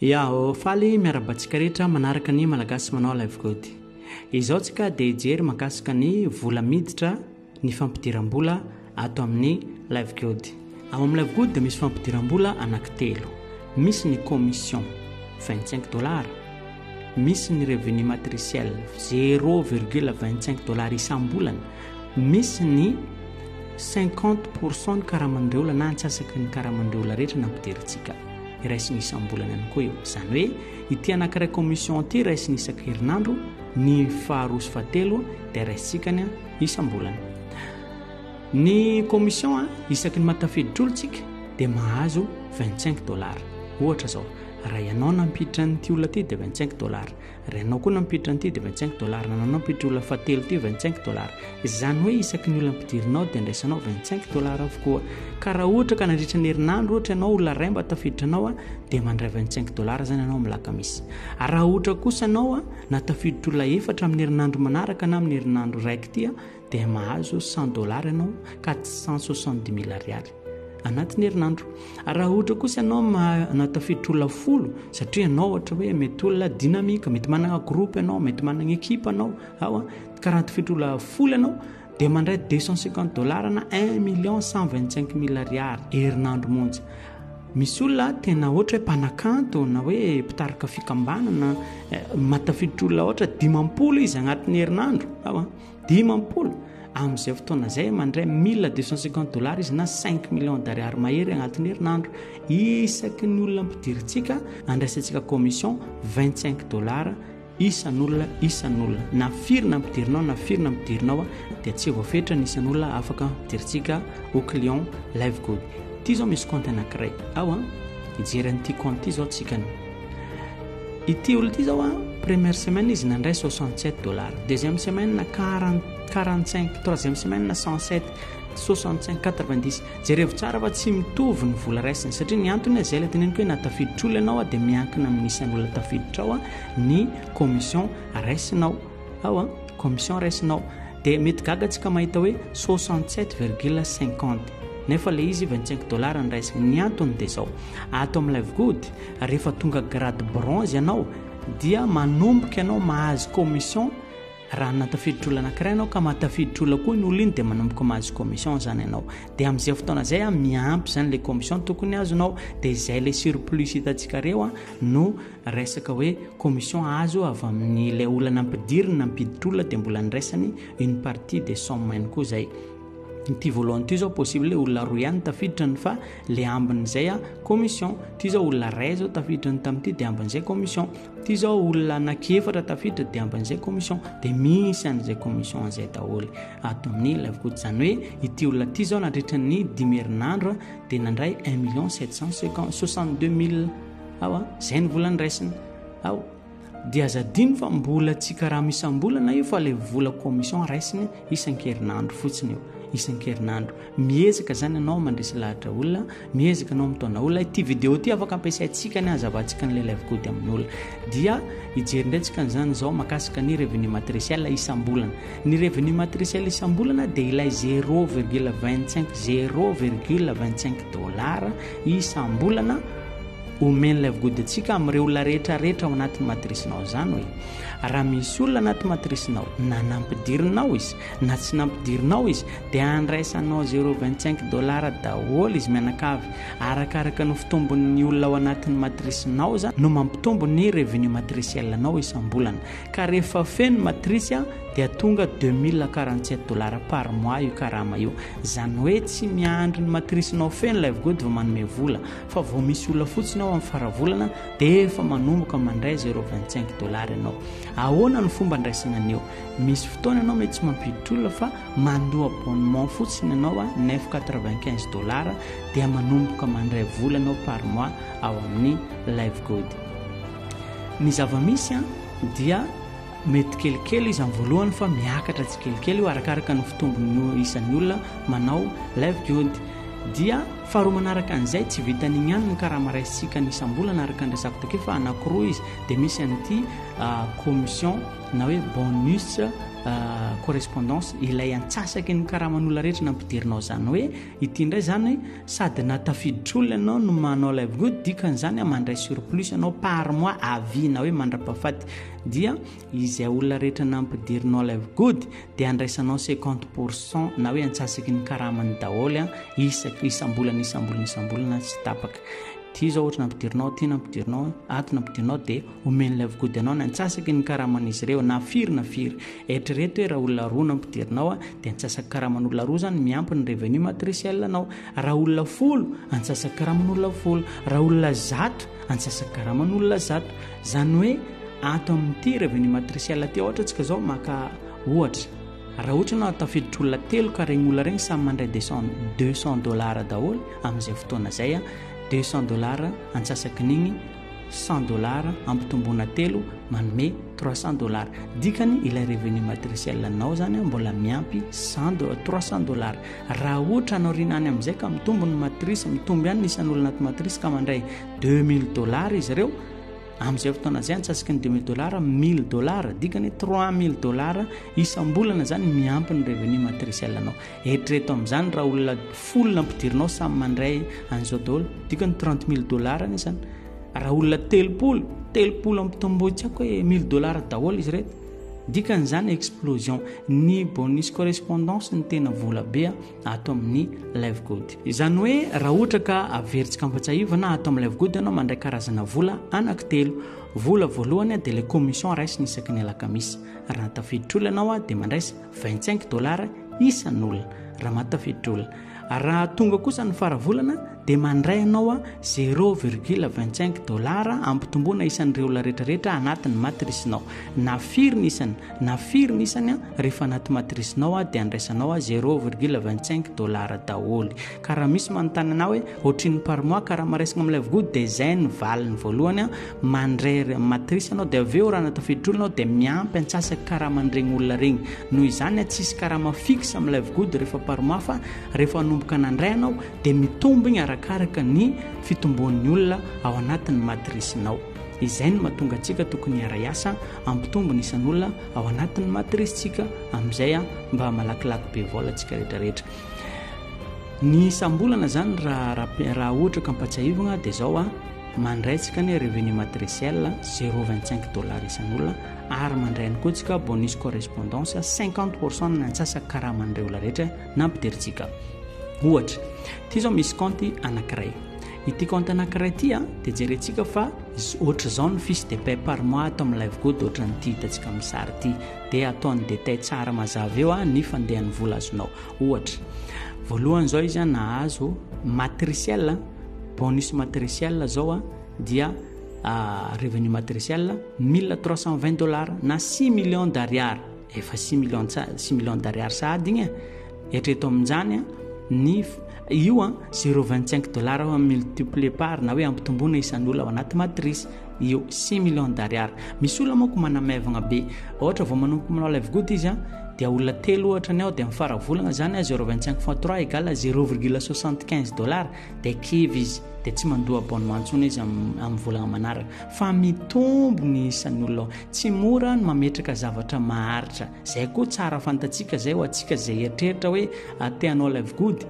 Ya o faly miarahaba antsika rehetra manaraka ny Malagasy manao live code. Izao tsika dia hijery makasika ny vola miditra ny fampidiram-bola ato amin'ny live code. Ao amin'ny live code dia misy fampidiram-bola anankitelo. Misy ny commission 25 dollars, misy ny revenu matriciel 0,25 dollars isam-bolana, misy ny 50% ny karaman'ireo olona na antsasaky ny karaman'ireo olona rehetra nampidirintsika. iray sy ny isam-bolana ihany koa io. Izany hoe ity anankiray commission ity iray sy ny isan-kerinandro, ny faharoa sy fahatelo dia raisintsika ny isam-bolana. Ny commission isaky ny matafidin-trolotsika dia mahazo 25 dollars. Ohatra izao, raha ianao nampiditra an'ity olona ity dia 25 dollars. Renao koa nampiditra an'ity dia 25 dollars, nanao nampiditra olona fahatelo ity 25 dollars. Izany hoe isaky ny olona ampidirinao dia andraisanao 25 dollars avokoa. Ka raha ohatra ka nandritra ny herinandro ohatra ianao olona ray mba tafiditra anao dia mandray 25 dollars izany ianao amin'ny lakamisy. Ary raha ohatra kosa ianao na tafiditra olona efatra amin'ny herinandro manaraka na amin'ny herinandro raiky ity dia mahazo cent dollars ianao quatre cent soixante dix mille ariary anatin'ny herinandro ary raha ohatra kosa ianao manao tafiditra olona folo satria ianao ohatra hoe mety olona dynamique mety manana groupe ianao mety manana équipe ianao ao a ka raha tafiditra olona folo ianao dia mandray deux cent cinquante dollars na un million cent vingt cinq mille ariary herinandro monja misy olona tena ohatra hoe mpanakanto na hoe mpitarika fikambanana eh, matafiditra olona ohatra dimampolo izy agnatin'ny herinandro ao a Dimampolo, Amin'izay fotoana izay, mandray mille deux cent cinquante dollars izy na cinq millions d'ariary mahery agnatin'ny herinandro. Isaky ny olona ampidirintsika, andraisantsika commission vingt-cinq dollars isan'olona isan'olona. Na firy ny ampidirinao na firy ny ampidirinao dia tsy voafetra ny isan'olona afaka ampidirintsika ho client Livegood. Ity izao misy compte anankiray ao an. Hijery an'ity compte ity izao tsika. Ity olona ity zao a, première semaine izy nandray 67 dollars, deuxième semaine 40, 45, troisième semaine 107, 65, 90. Jerevo tsara fa tsy mitovy ny vola raisiny satria ny antony a, zay ilay teneniko hoe na tafiditra olona ianao a dia miankina amin'ny isan'olona tafiditra ao a ny commission raisinao. Ao an, commission raisinao. Dia mety gaga tsika mahita hoe soixante sept virgule cinquante. Nefa ilay izy vingt cinq dollars no raisiny. Ny antony dia izao, ato amin'ny live good, rehefa tonga grade bronze ianao, dia manomboka ianao mahazo commission, raha na tafiditra olona anankiray ianao ka maha tafiditra olona koa iny olona iny dia manomboka mahazo commission izany ianao. Dia amin'izay fotoana izay an, miampy izany ilay commission tokony azonao. Dia izay ilay surplus hitantsika ireo an, no. Resaka hoe commission azo avy amin'ilay olana ampidiriny na ampiditr-olona dia mbola andraisany une partie des sommes ihany koa izay. Ity voalohany ity izao possible olona roa ihany tafiditra ny fa le ambin'izay a commission. Ity izao olona iray izao tafiditra ny tamin'ity dia ambin'izay commission. Ity izao olona anankiefatra tafiditra dia ambin'izay commission. Dia misy an'izay commission izay daholo ato amin'ny live coach. Izany hoe ity olona ity izao nandritra ny dimy herinandro dia nandray un million sept cent soixante-deux mille Ao a, zay ny vola ndraisina. Ao. Dia aza adino fa mbola tsy karama isam-bolana io fa le vola commission raisina isan-kerinandro fotsiny io. Isan-kerinandro. Miezaka zany anao mandresy lahatra olona, miezaka anao mitaona olona. Ity vidéo ity afaka ampiasaintsika ny azavantsika ny lelaivo gody amin'olona. Dia hijery indray tsika an'izany izao makasika ny revenu matriciel isam-bolana. Ny revenu matriciel isam-bolana dia ilay 0,25 0,25 dollars isam-bolana Omen'ilay vgody antsika amin'ireo olona rehetra rehetra ao anatin'ny matrisinao izany hoe raha misy olona anaty matrisinao na nampidirinao izy na tsy nampidirinao izy dia andraisanao 0,25 dollars daholo izy mianakavy arakaraka ny fitombon'ny olona ao anatin'ny matrisinao izany no mampitombo ny revenu matriciel anao isam-bolana ka rehefa feno matrisy dia tonga 2047 dollars par mois io karama io izany hoe tsy miandry ny matrisinao feno ilay vgody vao manome vola fa vao misy olona fotsiny ao amin'ny faravolana dia efa manomboka mandray zero vingt cinq dollars ianao ahoana ny fomba andraisana an'io misy fotoana ianao mety tsy mampiditra olona fa mandoa abonnement fotsiny ianao a neuf quatre vingt quinze dollars dia manomboka mandray vola ianao par mois ao amin'ny live good ny zava-misy a dia mety kelikely izy amin'ny voalohany fa miakatra tsikelikely io arakaraka ny fitombon'ny isan'ny olona manao live good dia Faharoa manaraka an'izay, tsy vitan'igny ihany ny karama raisintsika ny isam-bolana araka ny resako takeo fa anankiroa izy, dia misy an'ity commission na hoe bonus correspondance ilay antsasaky ny karaman'olona rehetra na ampidirinao zany hoe ity indray zany sady na tafiditr-olona ianao no manao ilay vola dikan'izany mandray surplus ianao par mois à vie na hoe mandra-pahafaty dia Izay olona rehetra nampidirinao live good dia andraisanao cinquante pour cent na hoe antsasaky ny karamany daholo an, isaky isam-bolana isam-bolana isam-bolana tsy tapaka. Ity izao ohatra nampidirinao, ity nampidirinao, ato nampidirinao dia omen'ny live good anao ny antsasaky ny karaman'izy ireo na firy na firy. Eritrereto hoe raha olona roa nampidirinao dia antsasaky karaman'olona roa izany miampy ny revenu matriciel anao. Raha olona folo, antsasaky karaman'olona folo. Raha olona zato, antsasaky karaman'olona zato. Izany hoe ato amin'ity revenu matriciel ity ohatra tsika izao maka ohatra raha ohatra ianao tafiditra olona telo ka regny olona regny samy mandray deux cent deux cent dollars daholo amin'izay fotoana izay a deux cent dollars antsasakin'igny cent dollars ampitomboana telo manome trois cent dollars dikany ilay revenu matriciel anao izany a mbola miampy cent trois cent dollars raha ohatra anao rinany amin'izay ka mitombo ny matrice mitombo ihany ny isan'olona ato matrice ka mandray Deux mille dollars izy ireo, amin'izay fotoana izay antsasaky ny deux mille dollars, mille dollars, dikany hoe trois mille dollars isam-bolana izany miampy ny revenu matriciel anao. Eritrereto amin'izany raha olona folo no ampidirinao samy mandray an'izao daholo, dikany trente mille dollars anie izany. Raha olona telopolo, telopolo ampitomboy tsy haiko hoe mille dollars daholo izy ireto. Dikany izany explosion, ny bonus correspondance no tena vola be. ato amin'ny live good izany hoe raha ohatra ka averintsika ampatsahivana ato amin'ny live good ianao mandray karazana vola anaky telo vola voalohany dia le commission raisina isaky ny alakamisy raha tafiditra olona ianao dia mandraisa 25 dollars isan'olona raha mahatafiditra olona raha tonga kosa ny faravolana dia mandray ianao zéro virgule vingt cinq dollars hampitomboana isan'ireo olona rehetrarehetra anatin'ny matrisinao. Na firy ny isany, na firy ny isany, rehefa anaty matrisinao dia andraisanao zéro virgule vingt cinq dollars daholo. Ka raha misy manontany anao hoe ohatrin'ny par mois ka raha maraisina amin'ilay vogoa dia izay ny valiny voalohany, mandray matrisy ianao dia avy eo raha natafiditra olona ao dia miampy antsasaka karama an'iregny olona regny. Noho izany tsisy karama fixe amin'ilay vogody rehefa par mois fa rehefa hanomboka nandray ianao dia mitombigna arakaraka ny fitomboan'ny olona ao anatin'ny matrisinao. Izay no mahatonga antsika tokony hiara-hiasa hampitombo ny isan'olona ao anatin'ny matrisintsika amin'izay mba malakilaky be vola antsika rehetrarehetra. Ny isam-bolana izany raha raha ohatra ka ampatsiahivina dia izao a mandray tsika ny revenu matriciel 0,25 dollars isan'olona ary mandray ihany koa tsika bonus correspondance 50% ny antsasa karaman'ireo olona rehetra Nampiderintsika ohatra, ity izao misy kaonty anankiray. Ity kaonty anankiray ity dia jerentsika fa ohatr'izao ny fiche de paie par mois ato amin'ilay vgod ohatran'ity hitantsika amin'ny sary ity. Dia atao ny détail tsara mazava eo ny fandehan'ny vola azonao. Ohatra, voalohany izao izy nahazo matriciel, bonus matriciel izao dia revenu matriciel 1320 dollars na 6 millions d'ariary. efa six millions tsa- six millions d'ariary sahady igny e. eritrereto amin'izany a, ny f- io a 0,25 dollars aho multiplier par na hoe ampitomboina isan'olona ao anaty matrice io 6 millions d'ariary misy olona manko manamaivagna be ohatra vao manomboka manao live good izy a dia olona telo ohatra ny ao dia mifara volagna zany a 0,25 fois 3 égale 0,75 dollars dia kivy izy dia tsy mandoa abonnement ntsony izy am- amin'ny volagna manaraka fa mitombo ny isan'ny olona ao. Tsy mora ny mametraka zavatra maharitra. Izay koa tsara fantatsika izay ho antsika izay eritreritra hoe ah, te hanao live good.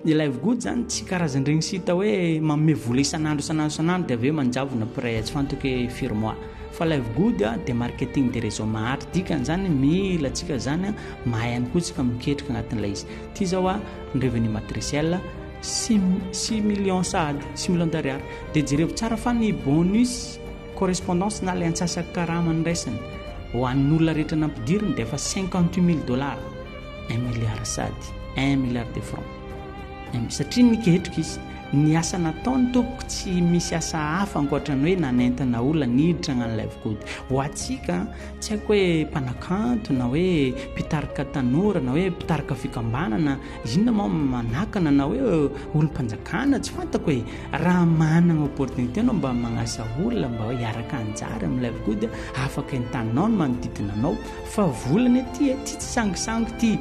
Ny live good izany tsy karazan'ireny sita hoe manome vola isan'andro isan'andro isan'andro dia avy eo manjavona pray tsy fantoko hoe firy mois. Fa live good ah, dia marketing de réseau maharitra. Dikan'izany mila antsika izany mahay ihany koa tsika miketrika anatin'ilay izy. Ity izao ah, ny revenu matriciel Six millions sahady six millions d'ariary dia jerevo tsara fa ny bonus correspondance na ilay antsasak'karama niraisiny ho an'olona rehetra nampidiriny dia efa cinquante huit mille dollars un milliard sahady un milliard de francs satria niketrika izy ny asa nataony tompoko tsy misy asa hafa ankoatra ny hoe nanentana olona niditra an'ilay vokody ho antsika tsy haiko hoe mpanakanto na hoe mpitarika tanora na hoe mpitarika fikambanana Inona moa no manakana anao hoe olom-panjakana? Tsy fantako e! Raha manana opportunité anao mba magnasa olona mba hiaraka hanjary amin'ny live koa dia afaka entaninao ny manodidina anao fa vola anie ity e! Tsy sangisangy ity,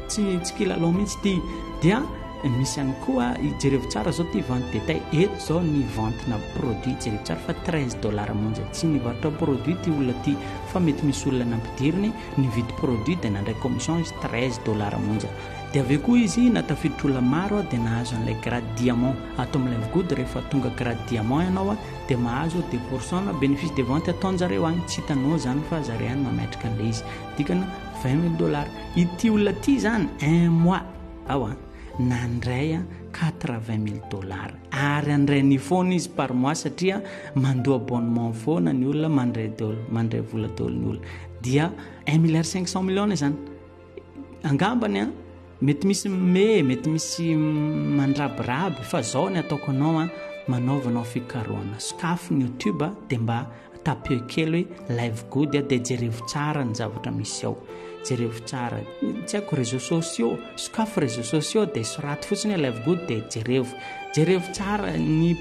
tsy tsy kilalao mihitsy ity. Dia misy ihany koa, jereo tsara izao ity vente détail, eto izao ny ventina produit, jereo tsara fa 13 dollars monja. Tsy nivarotra produit ity olona ity fa mety misy olona nampidiriny, nividy produit dia nandray commission izy 13 dollars monja. Dia avy eo koa izy na tafiditr-olona maro dia nahazo an'ilay grade diamant. Ato amin'ny Live Good rehefa tonga grade diamant ianao dia mahazo deux pour cent na bénéfice de vente ataonjareo any, tsy hitanao izany fa zareo any mametraka an'ilay izy. Dikany vingt mille dollars. Ity olona ity izany un mois ao an, nandray quatre vingt mille dollars. Ary handray an'io foana izy par mois satria mandoa abonnement foana ny olona, mandray daholo, mandray vola daholo ny olona. Dia un milliard cinq cent millions izany. Angambany an, mety misy me, mety misy mandrabiraby fa zao ny ataoko anao an, manaovanao fikarohana, sokafy ny YouTube dia mba tapio kely hoe live good dia jerevo tsara ny zavatra misy ao. Jerevo tsara. Tsy haiko réseaux sociaux, sokafy réseaux sociaux dia soraty fotsiny hoe live good dia jerevo. Jerevo tsara ny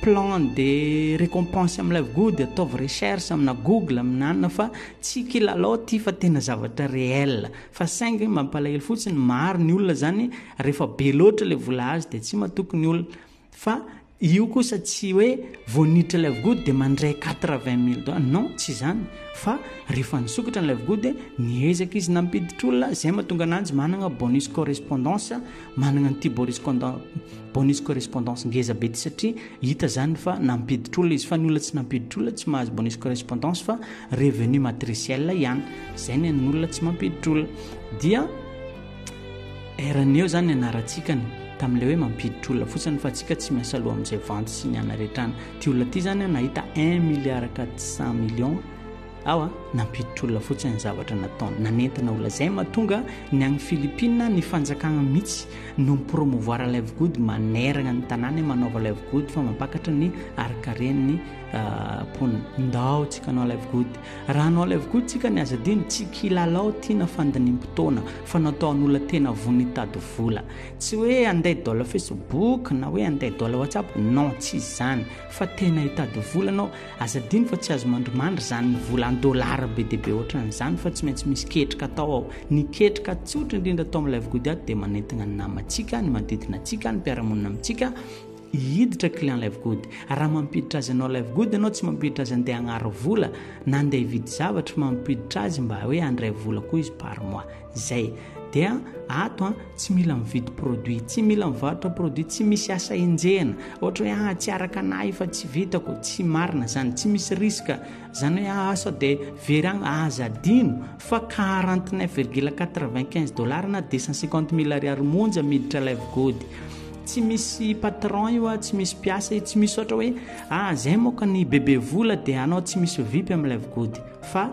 plan de récompense amin'ny live good, ataovy recherche amina Google, amina anona fa Tsy kilalao ity fa tena zavatra réel. Fa saingy mampalahelo fotsiny maro ny olona zany rehefa be loatra le vola azo de tsy matoky ny olona. Fa io kosa tsy hoe vao niditra ilay vgody de mandray quatre vingt mille dollars non tsy zany fa rehefa nisokatra n'ilay vgody niezaka izy nampiditra olona zay mahatonga ananjy managna bonus correspondance Managna an'ity boriscondant bonus correspondance ngeza be ty satria hita zany fa nampiditra olona izy fa ny olona tsy nampiditra olona tsy mahazo bonus correspondance fa revenu matriciel ihany zay ny an'ny olona tsy mampiditra olona dia eraneo zany anarantsikany tamin'le hoe mampiditra olona fotsiny fa tsika tsy miasa loha amin'izay vanty sy ny anaretrana ty olona ty zany nahita un milliard quatre cent millions Awa, nampiditra olona fotsiny ny zavatra nataony. Nanentana olona izay mahatonga ny agny Philippines ny fanjakagna mihitsy no mi-promouvoir live good maneragna ny tanàna manaova live good fa mampakatra ny harinkaren'ny mponina. Ndao tsika hanao live good. Raha hanao live good tsika ny aza adino tsy kilalao tiana fandinimpotoana fa nataon'olona tena vono hitady vola. Tsy hoe andeha dol Facebook na hoe andeha dol WhatsApp. Non, tsy izany. Fa tena hitady vola anao, aza adino fa tsy azo mandrimandry izany vola en dollars be dia be ohatran' izany fa tsy maintsy misy ketrika atao ao. Ny ketrika tsotra indrindra atao amin'ny Live Good ato dia manentana ny namantsika, ny manodidina antsika, ny mpiara-monina amintsika hiditra client Live Good. Raha mampiditra azy hanao Live Good ianao, tsy mampiditra azy handeha hagnary vola na handeha hividy zavatra fa mampiditra azy mba hoe handray vola koa izy par mois. Zay. Dia ato an, tsy mila mividy produit, tsy mila mivarotra produit, tsy misy asa enjehina. Ohatra hoe ah tsy araka anah io fa tsy vitako, tsy marina zany, tsy misy risque. Zany hoe ah sao dia very agny, aza adino fa quarante neuf virgule quatre vingt quinze dollars na deux cent cinquante mille ariary monja miditra ilay vigody. Tsy misy patron io ah, tsy misy mpiasa io, tsy misy ohatra hoe ah zay moka ny bebe vola dia anao tsy misy vipy amin'ilay vigody. Fa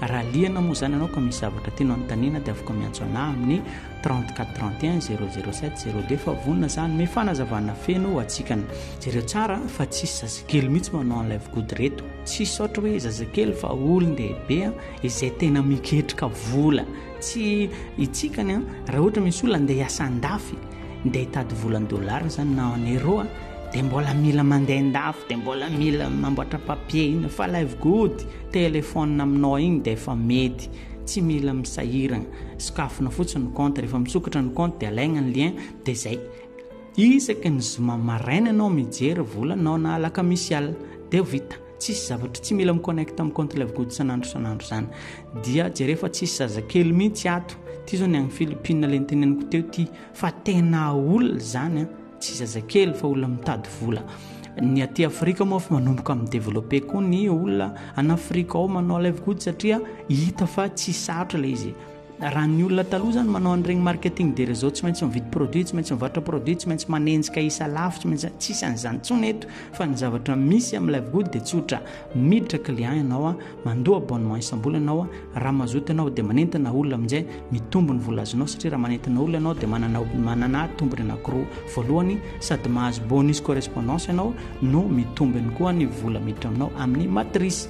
Raha liana moa izany ianao ka misy zavatra tianao anontaniana dia afaka miantso anah amin'ny 34 31 007 02 fa vonona zah hanome fanazavana feno ho atsikana. Jereo tsara fa tsisy zazakely mihitsy manao an'ilay vgody reto. Tsy hisaotra hoe zazakely fa olon-dehibe izay tena miketrika vola. Tsy hitsika ny an, raha ohatra misy olona andeha hiasa andafy, andeha hitady vola dollars izany na en euro, dia mbola mila mandeha andafy, dia mbola mila mamboatra papier iny, fa ilay vgody téléphone aminao iny dia efa mety, tsy mila misahirana, sokafina fotsiny ny compte, rehefa misokatra ny compte dia alaigna ny lien, dia izay. Isaky ny zoma maraina ianao mijery volanao na alakamisy alina, dia vita. Tsisy zavatra tsy mila mi-connect amin'ny compte Love Good isan'andro isan'andro izany. Dia jereo fa tsisy zazakely mihitsy ato. Ity izao ny any Philippines ilay niteneniko teo ity fa tena olona izany an. Tsy zazakely fa olona mitady vola. Ny aty Afrika moa fa manomboka amin'ny développé koa ny olona an'Afrika ao manao Love Good satria hita fa tsy sarotra ilay izy. Raha ny olona taloha izany manao an'ireny marketing de réseau tsy maintsy mividy produit, tsy maintsy mivarotra produit, tsy maintsy manenjika isa lafo, tsy maintsy tsisy an'izany intsony eto fa ny zavatra misy amin'ny live good dia tsotra miditra client ianao a, mandoa abonnement isam-bolana aho a, raha mazoto ianao dia manentana olona amin'izay mitombo ny vola azonao satria raha manentana olona ianao dia manana manana tombony anankiroa, voalohany sady mahazo bonus correspondance ianao no mitombo ihany koa ny vola miditra aminao amin'ny matrice.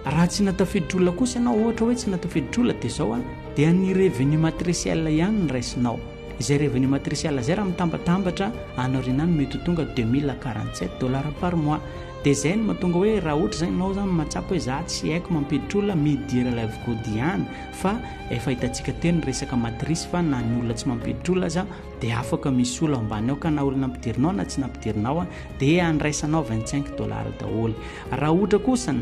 Raha tsy na tafiditr-olona kosa ianao, ohatra hoe tsy na tafiditr-olona dia izao an, dia ny revenu matriciel ihany no raisinao. Izay revenu matriciel izay raha mitambatambatra any aoriana any mety ho tonga deux mille quarante sept dollars par mois. Dia izay no mahatonga hoe raha ohatra izany ianao izany mahatsapa hoe za tsy haiko mampiditr-olona, midira ilay avokoa diany fa efa hitantsika teo ny resaka matrice fa na ny olona tsy mampiditr-olona aza, dia afaka misy olona ambany ao ka na olona nampidirinao na tsy nampidirinao dia andraisanao 25 dollars daholo raha ohatra kosa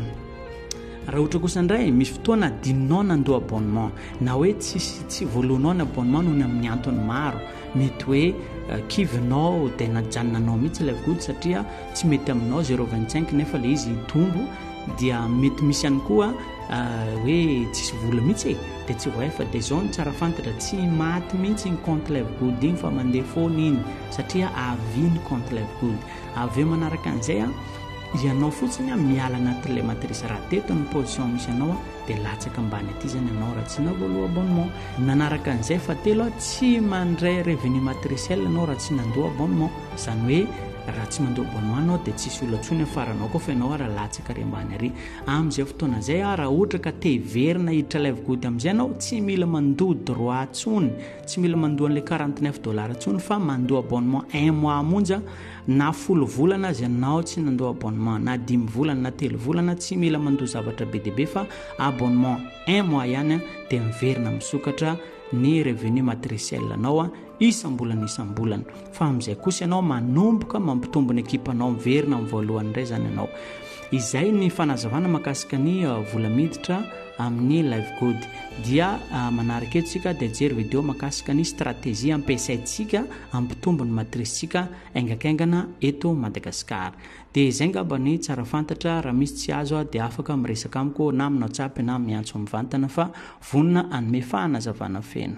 raha ohatra kosa indray misy fotoana adinonao nandoa abonnement na hoe tsisy tsy voalohanao ny abonnement noho ny amin'ny antony maro mety hoe eh, kivinao dia najanonanao mihitsy ilay vody satria tsy mety aminao 025 nefa ilay izy hitombo dia mety misy ihany koa Hoe tsisy vola mihitsy e, dia tsy voay fa dia zao no tsara fantatra, tsy maty mihitsy iny compte Livegood iny fa mandeha foana iny satria à vie ny compte Livegood. Avy eo manaraka an'izay an, ianao fotsiny an miala anatin'ilay matrice raha teto ny position misy anao an dia latsaka ambany aty zany ianao raha tsy navoaloa abonnement. Nanaraka an'izay fahatelo an, tsy mandray revenu matriciel ianao raha tsy nandoa abonnement. Izany hoe raha tsy mandoa abonnement ianao dia tsisy olona intsony afaranao koa fa ianao ara latsaka ary ambany ary. Amin'izay fotoana izay aho, raha ohatra ka te hiverina hiditra Live Good amin'izay ianao, tsy mila mandoa droit intsony, tsy mila mandoa an'ilay quarante neuf dollars intsony fa mandoa abonnement un mois monja, na folo volana aza ianao tsy nandoa abonnement, na dimy volana, na telo volana, tsy mila mandoa zavatra be dia be fa abonnement un mois ihany dia miverina misokatra ny revenu matriciel-nao. isam-bolana isam-bolana fa amin'izay kosa ianao manomboka mampitombo ny ekipanao miverina amin'ny voalohany indray izany ianao izay ny fanazavana makasika ny uh, vola miditra amin'ny live good dia uh, manaraka etsika dia jery video makasika ny stratégie ampiasaintsika ampitombo ny matricesika aingankingana eto madagasikara dia izay ngaba ny tsara fantatra raha misy tsy azo a dia afaka miresaka amiko na aminao tsapy na miantso mivantana fa vonona anome fahanazavana feno